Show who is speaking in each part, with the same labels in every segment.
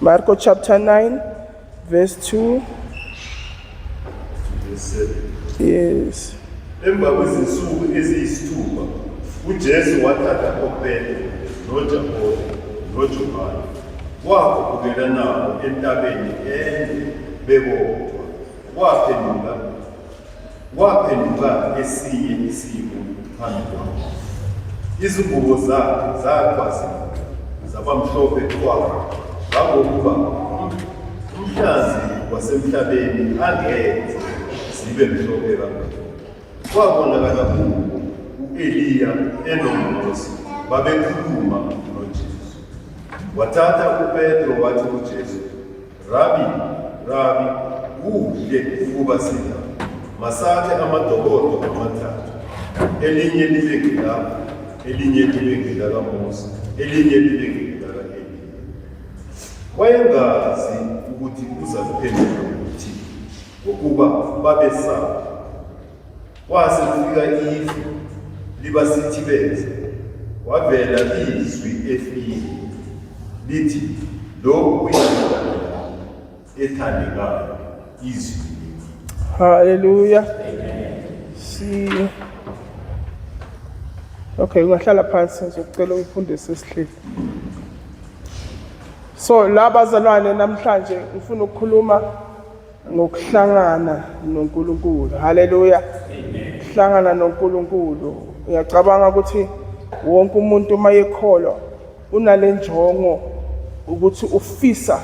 Speaker 1: Marko chapter 9 verse 2 yes emva
Speaker 2: kwezinsuku eziyisithupha ujesu wathatha opetro nojakobe nojohane wakhupukela nabo entabeni ende bebodwa waphenduka Kwaphenduka esinye isimo phambi kwakhe, izingubo zakhe zagqwazela zabamhlophe kwakhe, ngangokuba umhlazi wasemhlabeni angenze zibe mhlophe kangaka. Kwabonakala kuwo u-Eliya enoMose babekhuluma noJesu. Wathatha uPetro wathi kuJesu, Rabi, Rabi, kuhle ukuba sila masakhe amadokodo amathathu, elinye libe ngilapha, elinye libe ngilakaMose, elinye libe ngilaka-Eliya. Wayengazi ukuthi uza kuphendula ukuthi ngokuba babesaba Kwase kufika ifu liba sithi benze wavela izwi efile lithi lokhu kuyindoda ethandekayo
Speaker 1: izwi haleluya si okay ungahlala phansi ngizokucela ungifundise isihleli so la bazalwane namhlanje ngifuna ukukhuluma ngokuhlangana noNkulunkulu haleluya ukuhlangana noNkulunkulu uyacabanga ukuthi wonke umuntu uma yekholwa unale njongo ukuthi ufisa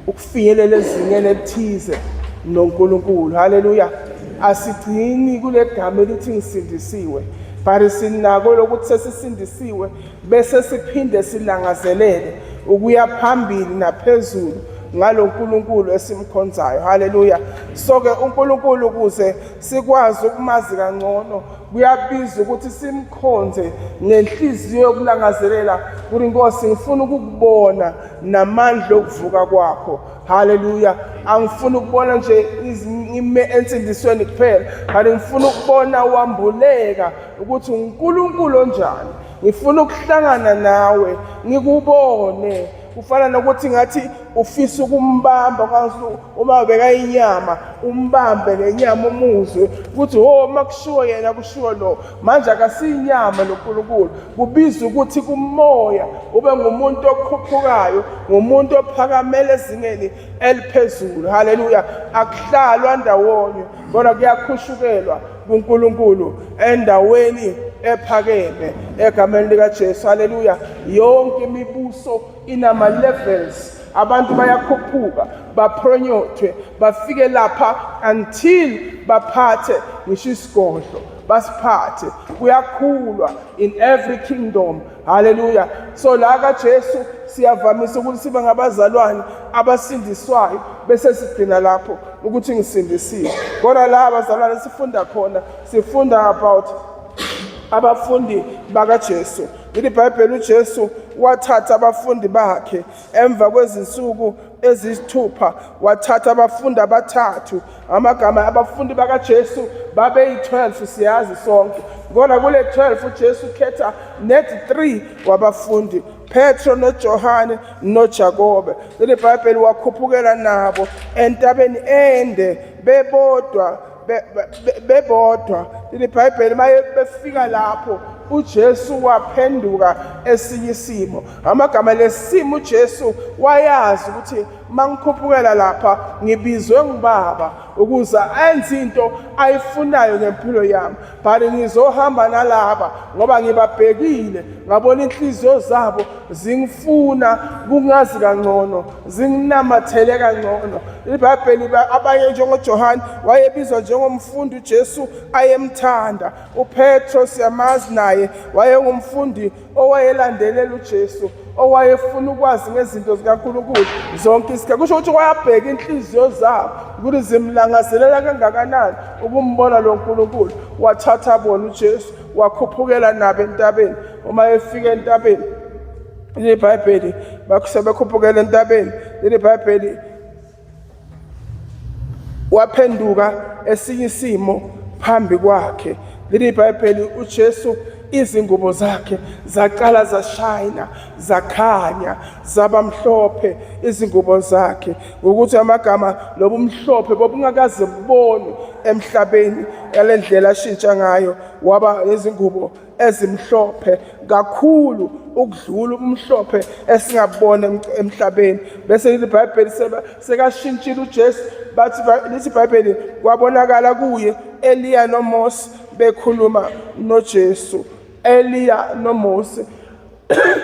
Speaker 1: ukufinyelela ezingeni elithize noNkulunkulu haleluya asigcini kule gama elithi ngisindisiwe but sinako lokuthi sesisindisiwe bese siphinde silangazelele ukuya phambili naphezulu ngalo Nkulunkulu esimkhonzayo haleluya so ke uNkulunkulu kuze sikwazi ukumazi kangcono kuyabiza ukuthi simkhonze ngenhliziyo yokulangazelela ukuthi Nkosi ngifuna ukukubona namandla okuvuka kwakho haleluya angifuni ukubona nje ime ensindisweni kuphela kanti ngifuna ukubona wambuleka ukuthi uNkulunkulu onjani ngifuna ukuhlangana nawe ngikubone kufana nokuthi ngathi ufisa ukumbamba kwangathi uma bekayinyama umbambe ngenyama umuzwe ukuthi ho uma kushiwo yena kushiwo lo manje akasiyinyama nonkulunkulu kubiza ukuthi kumoya ube ngumuntu okhuphukayo ngumuntu ophakamele ezingeni eliphezulu haleluya akuhlalwa ndawonye kodwa kuyakhushukela kuNkulunkulu endaweni ephakeme egameni likaJesu haleluya yonke imibuso inama levels abantu bayakhuphuka bapronyothwe bafike lapha until baphathe ngisho isigodlo basiphathe kuyakhulwa in every kingdom haleluya so la kajesu siyavamisa ukuthi sibe ngabazalwane abasindiswayo bese sigcina lapho ukuthi ngisindisiwe kodwa la abazalwane sifunda khona sifunda about abafundi bakajesu ilibhayibheli ujesu wathatha abafundi bakhe emva kwezinsuku eziyisithupha wathatha abafundi abathathu amagama abafundi bakaJesu babeyi-12 siyazi sonke kodwa kule 12 uJesu ukhetha net 3 wabafundi Petro noJohane noJakobe leli Bhayibheli wakhuphukela nabo entabeni ende bebodwa be- be- be- bebodwa leli bhayibheli maye befika lapho ujesu waphenduka esinye isimo ngamagama lesimo ujesu wayazi ukuthi uma ngikhuphukela lapha ngibizwe ngubaba ukuze enze into ayifunayo ngempilo yami but ngizohamba nalaba ngoba ngibabhekile ngabona inhliziyo zabo zingifuna kungazi kangcono zinginamathele kangcono ibhayibheli abanye njengojohane wayebizwa njengomfundi ujesu ayemthanda upetro siyamazi naye wayengumfundi owayelandelela uJesu owayefuna ukwazi ngezinto zikaNkulunkulu zonke isikhathi kusho ukuthi wayabheka inhliziyo zabo ukuthi zimlangazelela kangakanani ukumbona lo nkulunkulu wathatha bona ujesu wakhuphukela nabo entabeni uma efika entabeni leli bhayibheli sebekhuphukela entabeni leli bhayibheli waphenduka esinye isimo phambi kwakhe leli bhayibheli uJesu izingubo zakhe zaqala zashayina zakhanya zaba mhlophe izingubo zakhe ngokuthi amagama lobumhlophe bobungakaze bubonwe emhlabeni yalendlela ashintsha ngayo waba nezingubo ezimhlophe kakhulu ukudlula umhlophe esingabona emhlabeni bese lithi ibhayibheli sekashintshile ujesu bathi lithi ibhayibheli kwabonakala kuye eliya nomose bekhuluma nojesu eliya nomose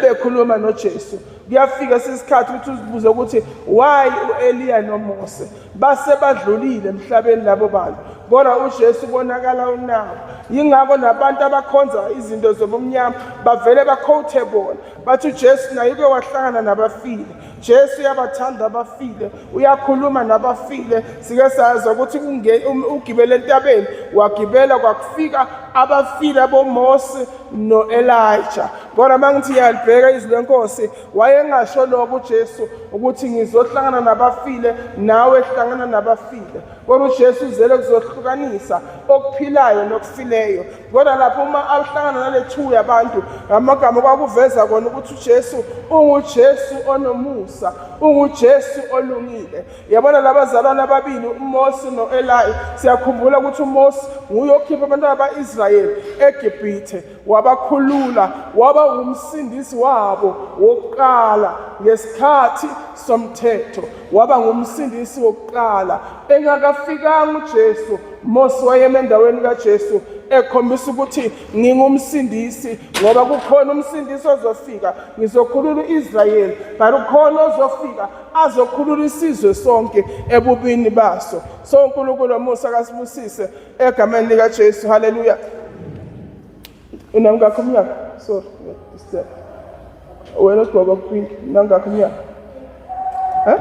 Speaker 1: bekhuluma noJesu kuyafika sisikhathi ukuthi uzibuze ukuthi why uEliya noMose base badlulile emhlabeni labo bantu kodwa uJesu konakala unawo yingakho nabantu abakhonza izinto zobumnyama bavele bakhothe bona bathi uJesu naye uke wahlangana nabafile Jesu uyabathanda abafile, uyakhuluma nabafile. Sike sazi ukuthi um, ugibele entabeni, wagibela kwakufika abafile aboMose noElija. Kodwa mangithi iyalibheka izwi lenkosi, wayengasho lokho uJesu ukuthi ngizohlangana nabafile nawe hlangana nabafile. Kodwa uJesu uzele kuzohlukanisa okuphilayo nokufileyo. Kodwa lapho uma ahlangana nalethu yabantu ngamagama kwakuveza kona ukuthi uJesu unguJesu onomusa, unguJesu olungile. Yabona labazalwane ababili uMose noElayi, siyakhumbula ukuthi uMose nguye okhipha abantwana baIsrayeli eGibhithe, wabakhulula, waba ngumsindisi wabo wokuqala ngesikhathi somthetho, waba ngumsindisi wokuqala Engakafikanga uJesu, Mose wayeme endaweni kaJesu ekhombisa ukuthi ngingumsindisi ngoba kukhona umsindisi ozofika ngizokhulula uIsrayeli but ukhona ozofika azokhulula isizwe sonke ebubini baso so uNkulunkulu omusa akasibusise egameni lika Jesu haleluya unangakho umnyaka sorry disturb wena ugqoka pink nangakho umnyaka huh?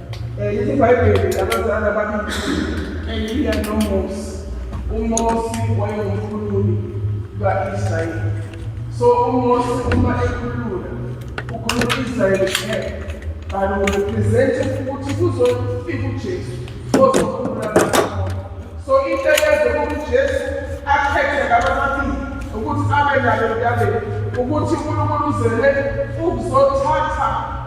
Speaker 1: Yithi iBhayibheli abazali ababili Eliya noMose. UMose wayengumkhululi ka-Israyeli. So uMose uma ekhulula ukhulula Israyeli kuphela. Kanti urepresente ukuthi kuzofika uJesu ozokhulula abantu. So into eyenze ukuthi uJesu akhethe laba babili ukuthi abe nalo endabeni ukuthi uNkulunkulu uzele ukuzothatha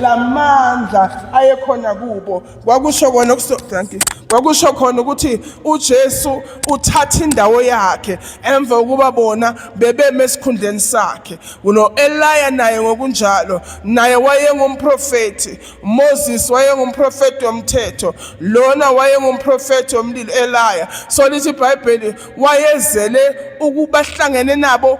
Speaker 1: lamandla ayekhona kubo kwakusho kona thank you kwakusho khona ukuthi uJesu uthatha indawo yakhe emva ukuba bona bebeme esikhundleni sakhe uno Eliya naye ngokunjalo naye wayengumprofeti Moses wayengumprofeti womthetho lona wayengumprofeti womlilo elaya so lithi ibhayibheli wayezele ukubahlangene nabo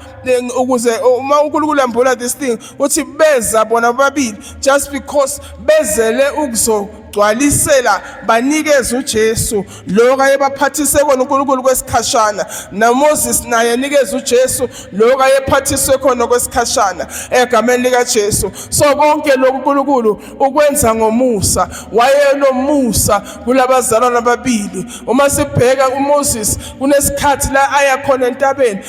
Speaker 1: ukuze uma unkulunkulu ambula this thing uthi beza bona bobabili just because bezele ukuzogcwalisela banikeze ujesu lokho ayebaphathise kona uNkulunkulu kwesikhashana naMoses naye nikeza uJesu lokho ayephathiswe khona kwesikhashana egameni lika Jesu so konke lokhu uNkulunkulu ukwenza ngomusa wayenomusa kulabazalwana ababili uma sibheka uMoses kunesikhathi la aya khona entabeni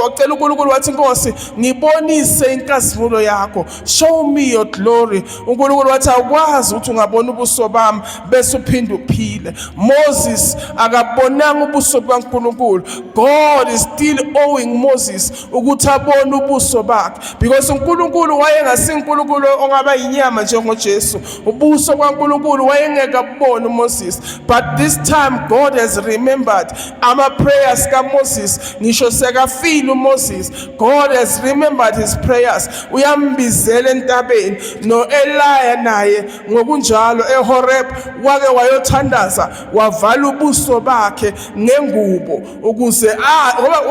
Speaker 1: wacela uNkulunkulu wathi inkosi ngibonise inkazimulo yakho show me your glory uNkulunkulu wathi awukwazi ukuthi ungabona ubuso bami bese uphinde uphile Moses akabonanga ubuso bukaNkulunkulu God is still owing Moses ukuthi abone ubuso bakhe because uNkulunkulu wayengasinkunkulunkulu ongaba inyama njengoJesu ubuso kwaNkulunkulu wayengeke abone uMoses but this time God has remembered ama prayers kaMoses ngisho sekafile uMoses God has remembered his prayers uyambizela entabeni noEliya naye ngokunjalo eHoreb wake wayothandaza wavala ubuso bakhe ngengubo ukuze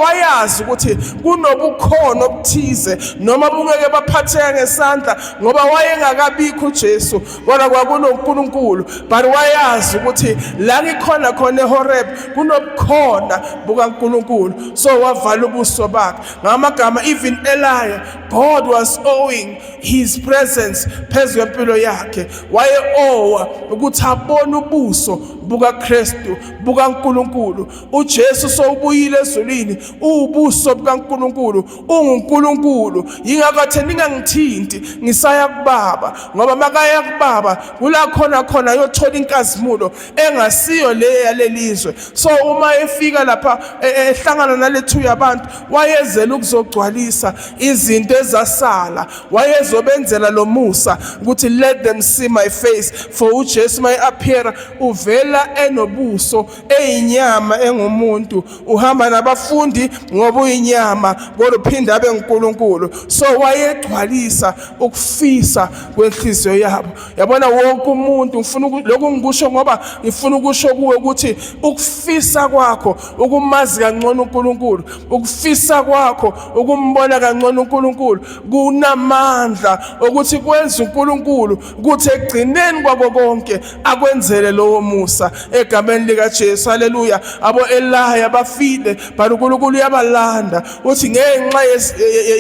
Speaker 1: wayazi ukuthi kunobukhona obuthize noma bungeke baphatheka ngesandla ngoba wayengakabikho uJesu kodwa kwakunoNkulunkulu but wayazi ukuthi la ngikhona khona eHoreb kunobukhona bukaNkulunkulu so wavala ubuso bakhe ngamagama even Eliya God was owing his presence phezu kwempilo yakhe waye owa ukuthi abone ubuso bukaKristu bukaNkulunkulu uJesu sowubuyile ezulwini ubuso bukaNkulunkulu unguNkulunkulu yingakho athe ningangithinti ngisaya kubaba ngoba makaya kubaba kula khona khona yothola inkazimulo engasiyo le yalelizwe so uma efika lapha e, e, ehlangana nalethu yabantu wayezela ukuzogcwalisa izinto ezasala wayezobenzela lomusa ukuthi let them see my face for uJesu my appear uvela enobuso eyinyama engumuntu uhamba nabafundi ngoba uyinyama kodwa uphinde abe nguNkulunkulu so wayegcwalisa ukufisa kwenhliziyo yabo yabona wonke umuntu ngifuna lokhu ngikusho ngoba ngifuna ukusho kuwe ukuthi ukufisa kwakho ukumazi kangcono uNkulunkulu ukufisa kwakho ukumbona kangcono uNkulunkulu kunamandla ukuthi kwenza uNkulunkulu kuthi ekugcineni kwako konke akwenzele lowo musa egameni likaJesu haleluya abo elaya bafile but uNkulunkulu uyabalanda uthi ngenxa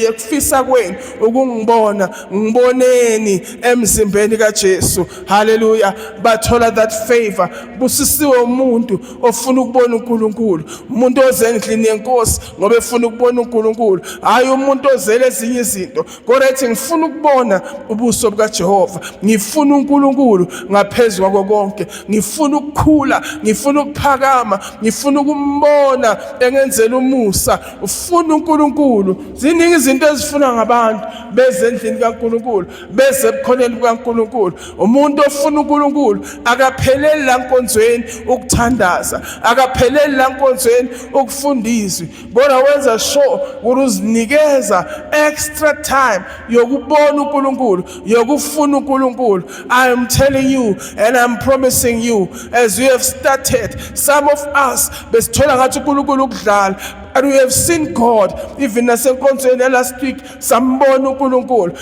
Speaker 1: yekufisa kwenu ukungibona ngiboneni emzimbeni kaJesu haleluya bathola that favor busisiwe umuntu ofuna ukubona uNkulunkulu umuntu oze endlini yenkosi ngoba efuna ukubona uNkulunkulu hayi umuntu ozele ezinye izinto kodwa ethi ngifuna ukubona ubuso bukaJehova ngifuna uNkulunkulu ngaphezu kwako konke ngifuna ukukhula ngifuna ukuphakama ngifuna ukumbona engenzela umusa ufuna uNkulunkulu ziningi izinto ezifuna ngabantu beze endlini kaNkulunkulu beze ebukhoneni bukaNkulunkulu umuntu ofuna uNkulunkulu akapheleli la nkonzweni ukuthandaza akapheleli la nkonzweni ukufundizwa kodwa wenza sure ukuthi uzinikeza extra time yokubona uNkulunkulu yokufuna uNkulunkulu i am telling you and i'm promising you as you have started some of us besithola ngathi uNkulunkulu ukudlala and we have seen God even nasenkonzweni last week sambona uNkulunkulu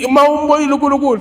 Speaker 1: uma umbonile uNkulunkulu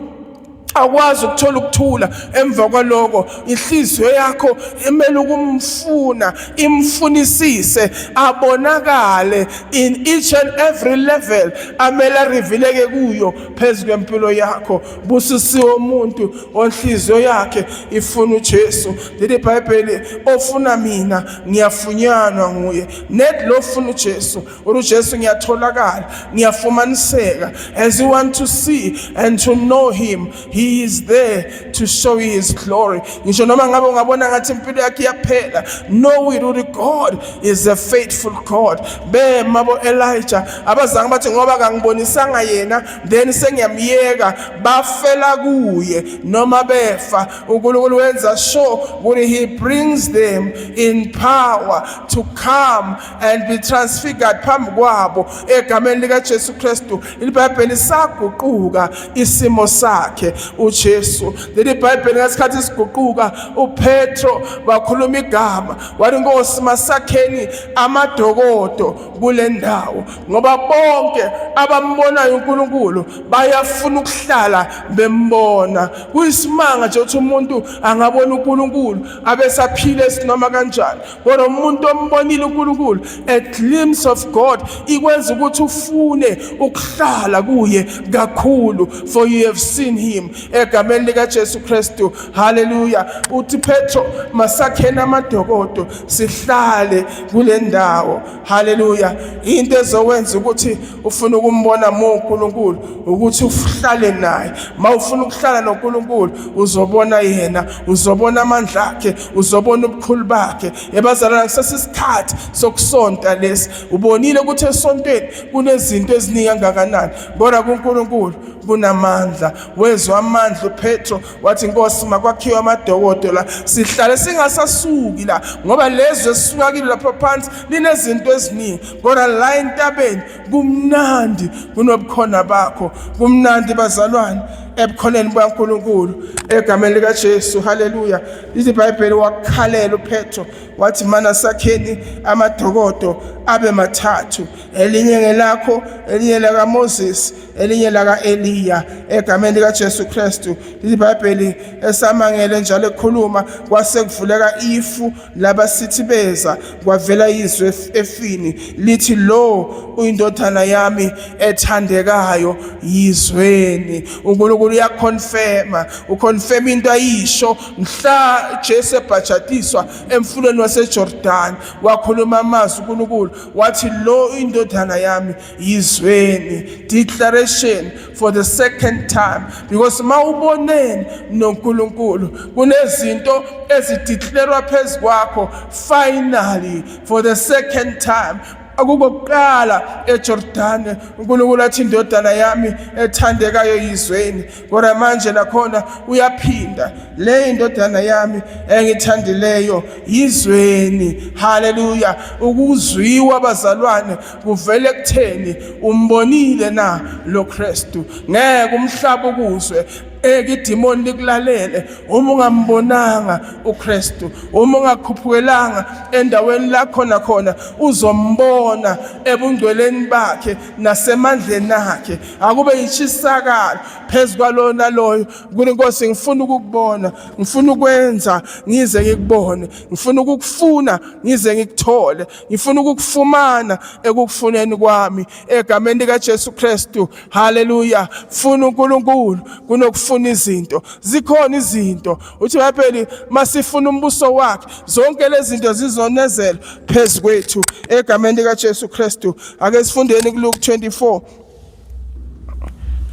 Speaker 1: awukwazi ukuthola ukuthula emva kwaloko inhliziyo yakho imele ukumfuna imfunisise abonakale in each and every level amele arivileke kuyo phezu kwempilo yakho busisiwe umuntu onhliziyo yakhe ifuna uJesu leli bhayibheli ofuna mina ngiyafunyanwa nguye net lo funa uJesu Uri Jesu ngiyatholakala, ngiyafumaniseka as you want to see and to know him, he is there to show you his glory. Ngisho noma ngabe ungabona ngathi impilo yakhe iyaphela, know it ukuthi God is a faithful God. Be mabo Elijah abazange bathi ngoba kangibonisanga yena then sengiyamyeka bafela kuye noma befa uNkulunkulu wenza sure ukuthi he brings them in power to come and be transfigured phambi kwabo egameni likaJesu Kristu ibhayibheli saguquka isimo sakhe uJesu leli bhayibheli ngesikhathi siguquka uPetro wakhuluma igama wathi Nkosi masakheni amadokodo kule ndawo ngoba bonke abambonayo uNkulunkulu bayafuna ukuhlala bembona kuyisimanga nje ukuthi umuntu angabona uNkulunkulu abesaphile sinoma kanjani kodwa umuntu ombonile uNkulunkulu a glimpse of God ikwenza ukuthi ufune ukuhlala kuye kakhulu for you have seen him egameni lika Jesu Kristu haleluya uthi Petro masakhena amadokodo sihlale kule ndawo Haleluya. Into ezowenza ukuthi ufuna ukumbona mu uNkulunkulu ukuthi uhlale naye. Mawufuna ukuhlala noNkulunkulu uzobona yena, uzobona amandla akhe, uzobona ubukhulu bakhe. Ebazalwana kusesisikhathi sokusonta lesi. Ubonile ukuthi esontweni kunezinto eziningi kangakanani. Kodwa kuNkulunkulu kunamandla. Wezwa amandla uPetro wathi nkosi makwakhiwe amadokodo la sihlale singasasuki la ngoba lezwe esisuka kilo lapha phansi linezinto eziningi kodwa la entabeni kumnandi kunobukhona bakho kumnandi bazalwane ebukhoneni bukaNkulunkulu egameni lika Jesu haleluya lithi bible wakhalela uPetro wathi mana sakheni amadokodo abe mathathu elinye ngelakho elinye laka Moses elinye laka-eliya egameni likajesu kristu ibhayibheli esamangele njalo ekhuluma kwase kuvuleka ifu labasithi beza kwavela izwi efini lithi lo uyindodana yami ethandekayo yizweni unkulunkulu uyakhonfema ukhonfema into ayisho mhla jesu ebhajatiswa emfuleni wasejordani wakhuluma amazwi unkulunkulu wathi lo uyindodana yami yizweni declaration for the second time because mawuboneni noNkulunkulu kunezinto ezideclarwa phezukwakho finally for the second time akukokuqala eJordane uNkulunkulu athi indodana yami ethandekayo yizweni kodwa manje nakhona uyaphinda le indodana yami engithandileyo yizweni haleluya ukuzwiwa bazalwane kuvele kutheni umbonile na lo Kristu ngeke umhlaba ukuzwe eke idimoni likulalele uma ungambonanga uKristu uma ungakhuphukelanga endaweni la khona khona uzombona ebungcweleni bakhe nasemandleni akhe akube yishisakala phezu kwalona loyo kuthi inkosi ngifuna ukukubona ngifuna ukwenza ngize ngikubone ngifuna ukukufuna ngize ngikuthole ngifuna ukukufumana ekukufuneni kwami egameni likaJesu Kristu haleluya funa uNkulunkulu kunokufuna izinto zikhona izinto uthi bapheli masifuna umbuso wakhe zonke lezi zinto zizonezela phezu kwethu egameni likaJesu Kristu ake sifundeni kuLuke 24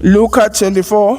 Speaker 1: Luka 24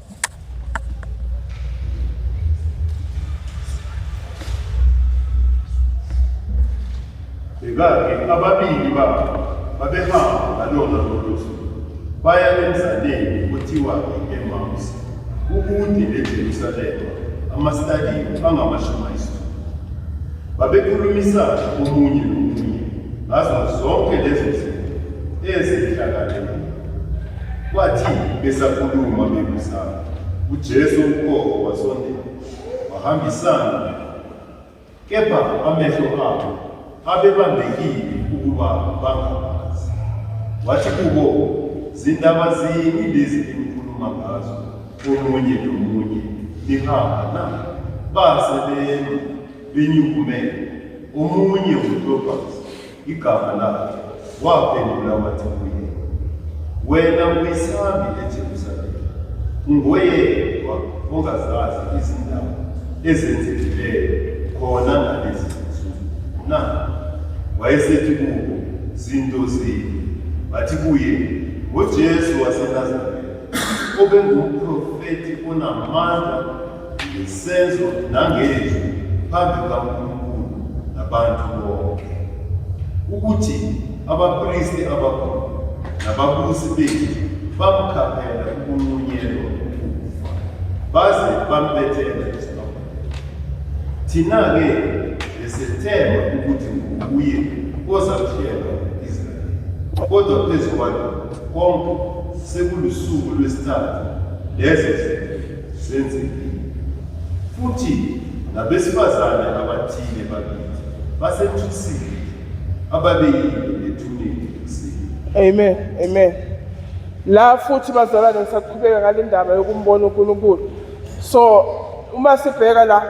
Speaker 2: Yeka-ke ababili babo babehamba ngalona lolu suku baya emzaleni kuthiwa i-Emawusi, kukude neJerusalema, amasitadiya angamashumi ayisithupha. Babekhulumisana omunye nomunye ngazo zonke lezo zinto ezehlakale Kwathi besakhuluma bebuzana, uJesu uqobo wasondela, wahambisana kepha amehlo abo abebambekile ukuba bangabazi. Wathi kubo, zindaba zini lezi enikhuluma ngazo omunye nomunye nihamba na? Base bema benyukumele, omunye uklobhazi igama lakhe, waphendula wathi kuye, Wena uyisambi eJerusalema, ungoyedwa ongazazi izindaba ezenzekileyo khona ngalezi zinsuku na? Wayesethi kubo, Zinto zini? Bathi kuye, NgoJesu waseNazaretha, obengumprofethi onamandla ngesenzo nangezwi phambi kaNkulunkulu nabantu bonke, ukuthi abapristi abakhulu nababusi bethu bamkhaphela ukunqunyelwa ukufa baze bambethela esibabheni. Thina-ke besethemba ukuthi nguye ozakuhlela u-Israyeli, kodwa phezu kwalokho konke sekulusuku lwesithathu lezo zinto Senzekile. Futhi nabesifazane abathile bakithi basethusile ababeyile nethuneni
Speaker 1: ekuseni. Amen. Amen. La futhi bazalwane ngisaqhubeka ngale ndaba yokumbona uNkulunkulu. So uma sibheka la